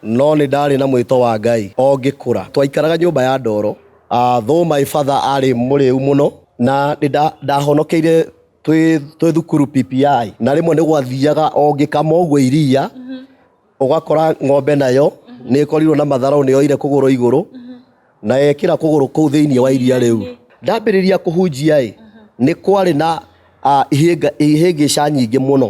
No nĩ ndaarĩ na mwĩto wa Ngai o ngĩkũra. Twaikaraga nyũmba ya ndoro. Though my father aarĩ mũrĩu mũno na nĩ ndahonokeire twĩ thukuru PPI, na rĩmwe nĩ gwathiaga o ngĩkama ũguo iria, ũgakora ng'ombe nayo nĩ ĩkorirwo na matharũ, nĩ yoire kũgũrũ igũrũ na yekĩra kũgũrũ kũu thĩinĩ wa iria rĩu. Ndambĩrĩria kũhunjia-ĩ, nĩ kwarĩ na ihĩngĩca nyingĩ mũno.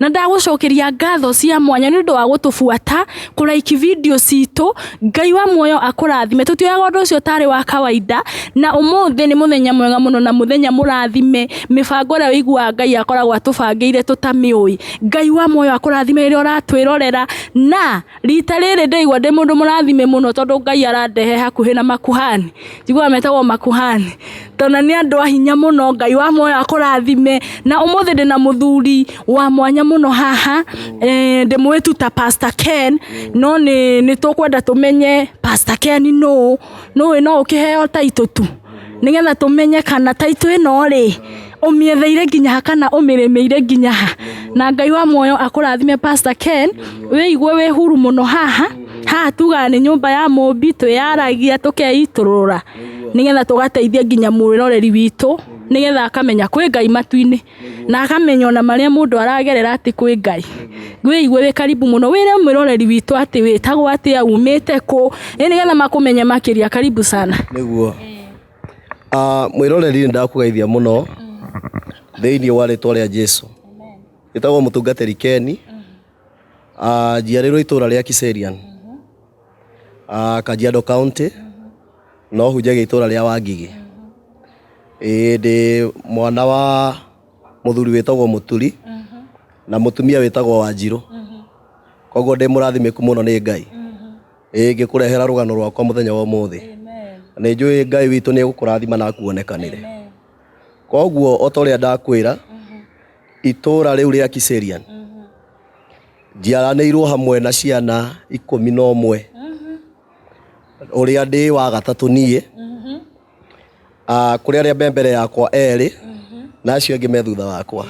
na ndagũcokeria ngatho cia mwanya nĩ ũndũ wa gũtũbuata kũraiki video citũ ngai wa muoyo akũrathime tũtioyaga ũndũ ũcio ũtarĩ wa kawaida na ũmũthĩ nĩ mũthenya mwega mũno na mũthenya mũrathime mĩbango ĩrĩa ũiguaga ngai akoragwo atũbangĩire tũtamĩũĩ ngai wa muoyo akũrathime rĩrĩa ũratwĩrorera na Rita rĩrĩ ndaigua ndĩ mũndũ mũrathime mũno tondũ Ngai arandehe hakuhĩ na makuhani. Njiguaga metagwo makuhani. Tondũ na nĩ andũ a hinya mũno, Ngai wa muoyo akũrathime. Na ũmũthĩ ndĩ na mũthuri wa mwanya mũno haha, ndĩmũĩ tu ta Pastor Ken, no nĩ nĩ tũkwenda tũmenye Pastor Ken nũũ. Nĩũĩ no ũkĩheo title tu? nĩgetha tũmenye kana taitũ ĩno rĩ ũmĩetheire nginya ha kana ũmĩrĩmĩire nginya ha na ngai wa muoyo akũrathime pastor ken wĩigue wĩ huru mũno haha haha tugaga nĩ nyũmba ya mũmbi twĩyaragia tũkeitũrũra nĩgetha tũgateithia nginya mwĩroreri witũ nĩgetha akamenya kwĩ ngai matu-inĩ Na akamenya ona marĩa mũndũ aragerera atĩ kwĩ Ngai. Wĩigue wĩ karibu mũno, wĩre mwĩroreri witũ atĩ wĩtagwo atĩa, umĩte kũ, ĩ nĩgetha makũmenye makĩria. Karibu sana. Nĩguo. Ah, mwĩroreri nĩndakũgeithia mũno thĩiniĩ wa rĩtwa rĩa Jesũ. Njĩtagwo mũtungatĩri Ken, ah, njiarĩirwo itũra rĩa Kiserian. Ah, Kajiado County no hunjagia itũra rĩa Wangigĩ ĩĩ ndĩ mwana wa mũthuri wĩtagwo Mũturi na mũtumia wĩtagwo Wanjirũ koguo ndĩ mũrathimĩku mũno nĩ Ngai ĩĩ ngĩkũrehera rũgano rwakwa mũthenya wa ũmũthĩ nĩ njũĩ Ngai witũ nĩ egũkũrathima na akuonekanĩre koguo o ta ũrĩa ndakwĩra itũũra rĩu rĩa kiserian njiaranĩirwo hamwe na ciana ikũmi na ũmwe ũrĩa ndĩ wa gatatũ niĩ Ah, kũrĩ arĩa me mbere yakwa erĩ na acio angĩ me thutha wakwa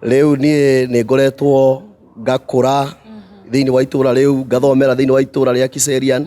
rĩu niĩ nĩ ngoretwo ngakũra thĩinĩ wa itũũra rĩu ngathomera thĩinĩ wa itũũra rĩa kiserian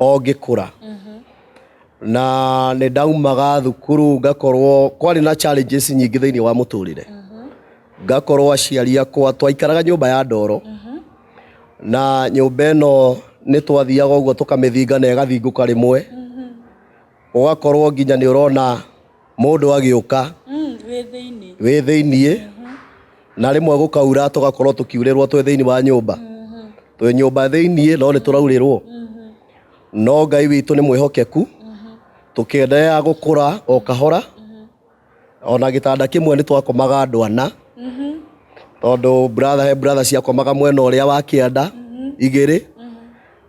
o ngĩkũra na nĩ ndaumaga thukuru ngakorwo kwarĩ na challenges nyingĩ thĩinĩ wa mũtũrĩre ngakorwo aciari akwa twaikaraga nyũmba ya ndoro na nyũmba ĩno nĩ twathiaga ũguo tũkamĩthinga na ĩgathingũka rĩmwe ũgakorwo nginya nĩ ũrona mũndũ agĩũka wĩ thĩiniĩ na rĩmwe gũkaura tũgakorwo tũkiurĩrwo twĩ thĩiniĩ wa nyũmba twĩ nyũmba thĩiniĩ no nĩ tũraurĩrwo no ngai witũ nĩ mwĩhokeku tũkĩendelea gũkũra o kahora ona gĩtanda kĩmwe nĩ twakomaga andũ ana tondũ brother he brother ciakomaga mwena ũrĩa wa kĩanda igĩrĩ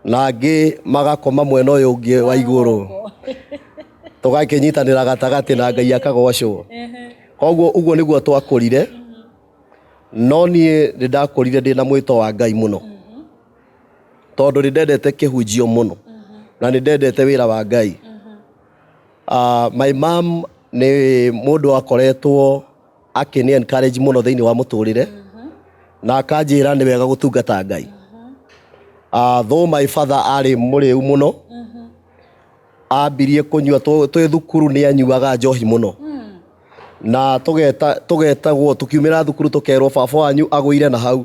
na angĩ magakoma mwena ũyũ ũngĩ wa igũrũ tũgakĩnyitanĩra gatagatĩ na ngai akagocwo koguo ũguo nĩguo twakũrire no niĩ nĩ ndakũrire ndĩ na mwĩto wa ngai mũno tondũ nĩ ndendete kĩhunjio mũno na nĩ ndendete wĩra wa ngai Ah, my mom nĩ mũndũ wakoretwo akĩni encourage mũno thĩinĩ wa mũtũrĩre na akanjĩra nĩ wega gũtungata ngai Ah, though my father arĩ mũrĩu mũno ambirie kũnyua tũ- twĩ thukuru nĩ anyuaga njohi mũno na tũgeta- tũgetagwo tũkiumĩra thukuru tũkerwo baba wanyu agũire na hau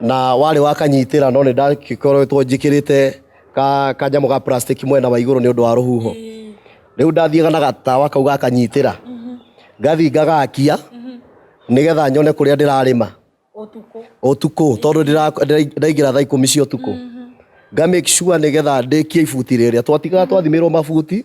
na warĩ wakanyitĩra no nĩ ndagĩkoretwo njĩkĩrĩte ka kanyamũ ga plastic mwena wa igũrũ nĩ ũndũ wa rũhuho rĩu ndathiaga na gatawa kau gakanyitĩra ngathiĩ ngagakia nĩgetha nyone kũrĩa ndĩrarĩma ũtukũ tondũ ndĩra- ndĩra- ndaingĩra thaa ikũmi cia ũtukũ nga make sure nĩgetha ndĩkie ibuti rĩrĩa twatigaga twathimĩrwo mabuti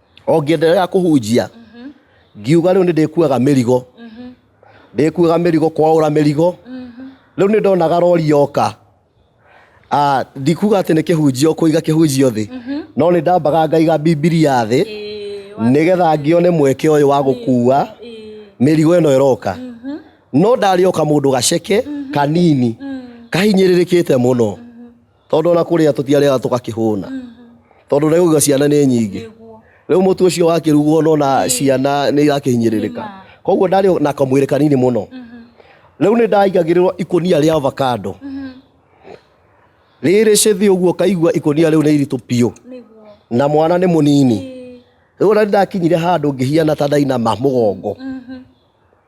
o ngĩenderera kũhunjia ngiuga rĩu nĩ ndĩkuaga mĩrigo ndĩkuaga mĩrigo kwaũra mĩrigo rĩu nĩ ndonaga rori yoka Ah, ndikuga atĩ nĩ kĩhunjio kũiga kĩhunjio thĩ no nĩ ndambaga ngaiga bibilia thĩ nĩgetha ngĩone mweke ũyũ wa gũkua mĩrigo ĩno ĩroka no ndarĩoka mũndũ gaceke kanini kahinyĩrĩrĩkĩte mũno Tondũ ona kũrĩa tũtiarĩaga tũgakĩhũna tondũ nĩ ũiga ciana nĩ nyingĩ rĩu mũtu ũcio wakĩrugwo no na ciana nĩ irakĩhinyĩrĩrĩka koguo ndarĩ na kamwĩrĩ kanini mũno rĩu nĩ ndaigagĩrĩrwo ikũnia rĩa avocado rĩrĩ cĩthĩ ũguo kaigua ikũnia rĩu nĩ iritũ biũ na mwana nĩ mũnini rĩu ona nĩ ndakinyire handũ ngĩhiana ta ndainama mũgongo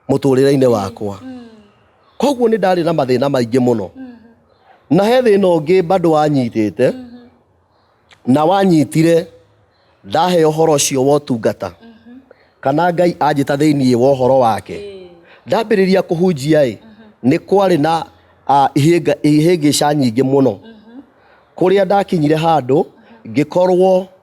mũtũrĩre-inĩ wakwa koguo nĩ ndarĩ na mathĩna maingĩ mũno na he thĩna ũngĩ bado wanyitĩte na wanyitire ndahe ũhoro ũcio wa ũtungata kana ngai anjĩta thĩinĩ wa ũhoro wake ndambĩrĩria kũhunjia ĩ nĩ kwarĩ na ah, ihĩnga- ihĩngĩca nyingĩ mũno kũrĩa ndakinyire handũ ngĩkorwo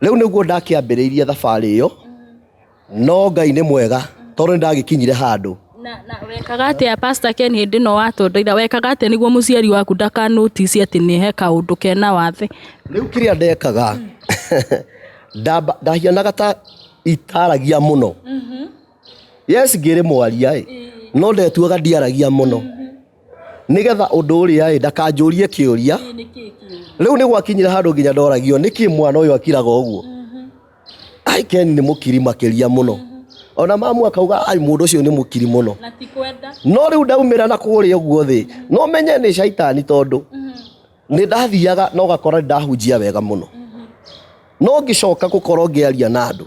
Rĩu nĩguo ndakĩambĩrĩirie thabarĩ ĩyo, no Ngai nĩ mwega tondũ nĩ ndagĩkinyire handũ. Na, na wekaga atĩa Pastor Ken hĩndĩ ĩno watondoira wekaga atĩa nĩguo mũciari waku ndakanotici atĩ nĩ he kaũndũ kena wathe Rĩu kĩrĩa ndekaga, ndamba- ndahianaga ta itaragia mũno. Yes ngĩrĩ mwaria ĩ, no ndetuaga ndiaragia mũno. nigetha undu uria ri ndakanjurie kiuria riu ni gwakinyire handu nginya ndoragio niki mwana uyu akiraga uguo mhm. ai ken ni mukiri makiria muno mhm. ona mamu akauga ai mundu ucio ni mukiri muno no riu ndaumira na kuria uguo thi no menye ni shaitani tondu mhm. ni ndathiaga no gakora ndahunjia wega muno no ngicoka gukorwo ngiaria na andu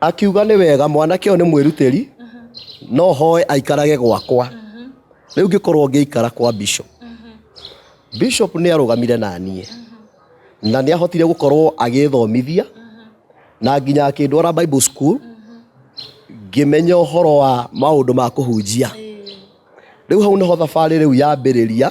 Akiuga nĩ wega mwanake ũyũ nĩ mwĩrutĩri no hoe aikarage gwakwa. Rĩu ngĩkorwo ngĩikara kwa Bishop. Bishop nĩ arũgamire na niĩ na nĩ ahotire gũkorwo agĩthomithia na nginya akĩndwara Bible school ngĩmenya ũhoro wa maũndũ ma kũhunjia. Rĩu hau nĩho thabarĩ rĩu yambĩrĩria.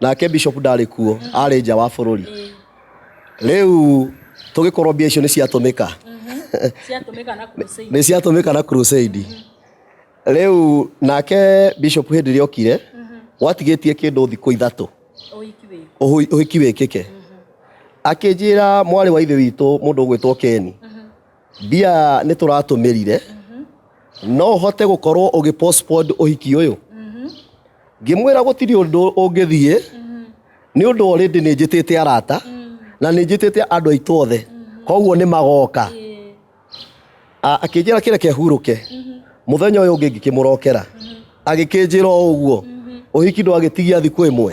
nake bishop ndarĩ kuo arĩ nja wa bũrũri rĩu tũgĩkorwo mbia icio nĩ ciatũmĩka ciatũmĩka na crusade nĩ ciatũmĩka na crusade rĩu nake bishop hĩndĩ ĩrĩa okire gwatigĩtie kĩndũ thikũ ithatũ ũhiki wĩ ũhũ- ũhiki wĩkĩke akĩnjĩra mwarĩ wa ithe witũ mũndũ ũgwĩtwo keni Mbia nĩ tũratũmĩrire no ũhote gũkorwo ũgĩ postpone ũhiki ũyũ ngĩmwĩra gũtirĩ ũndũ ũngĩthiĩ nĩ ũndũ already nĩ njĩtĩte arata na nĩ njĩtĩte andũ aitũ othe koguo nĩ magoka A- akĩnjĩra kĩreke hurũke mũthenya ũyũ ũngĩ ngĩkĩmũrokera agĩkĩnjĩra o ũguo ũhiki ndwagĩtigia thikũ ĩmwe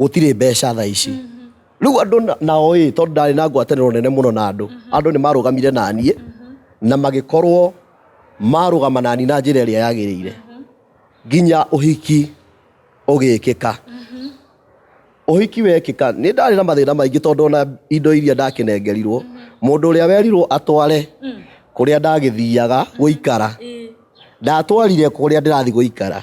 gũtirĩ mbeca thaa ici rĩu andũ na- nao ĩ tondũ ndarĩ na ngwatanĩro nene mũno na andũ andũ nĩ marũgamire na niĩ na magĩkorwo marũgama na niĩ na njĩra ĩrĩa yagĩrĩire nginya ũhiki ũgĩkĩka ũhiki wekĩka nĩ ndarĩ na mathĩna maingĩ tondũ ona indo iria ndakĩnengerirwo mũndũ ũrĩa werirwo atware kũrĩa ndagĩthiaga gũikara ndatwarire kũrĩa ndĩrathiĩ gũikara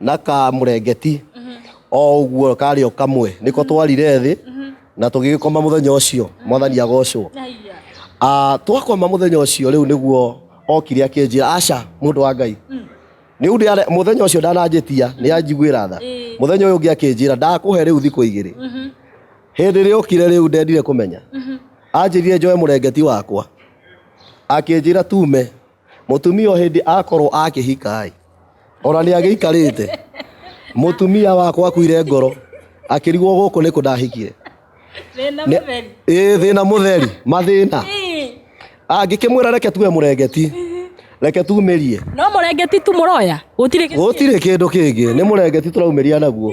na kamurengeti o ũguo karĩ o kamwe nĩko twarire thĩ na tũgĩgĩkoma mũthenya ũcio mwathani agocwo Ah, twakoma mũthenya ũcio rĩu nĩguo okire akĩnjĩra aca mũndũ wa ngai rĩu ndĩare- mũthenya ũcio ndananjĩtia nĩ anjiguĩra tha Ĩĩ. mũthenya ũyũ ũngĩ akĩnjĩra ndakũhe rĩu thikũ igĩrĩ hĩndĩ ĩrĩa okire rĩu ndendire kũmenya anjĩrire njoe mũrengeti wakwa akĩnjĩra tume Mũtumia o hĩndĩ akorwo akĩhika-ĩ, ona nĩ agĩikarĩte. Mũtumia wakwa akuire ngoro, akĩrigwo gũkũ nĩkũ ndahikire. Thĩna Nĩ- mũtheri. Ĩĩ thĩna mũtheri, mathĩna. Ii, Angĩkĩmwĩra reke tuwe mũrengeti, reke tumĩrie. No mũrengeti tu mũroya. Gũtirĩ kĩndũ kĩngĩ. Gũtirĩ kĩndũ kĩngĩ, nĩ mũrengeti tũraumĩria naguo.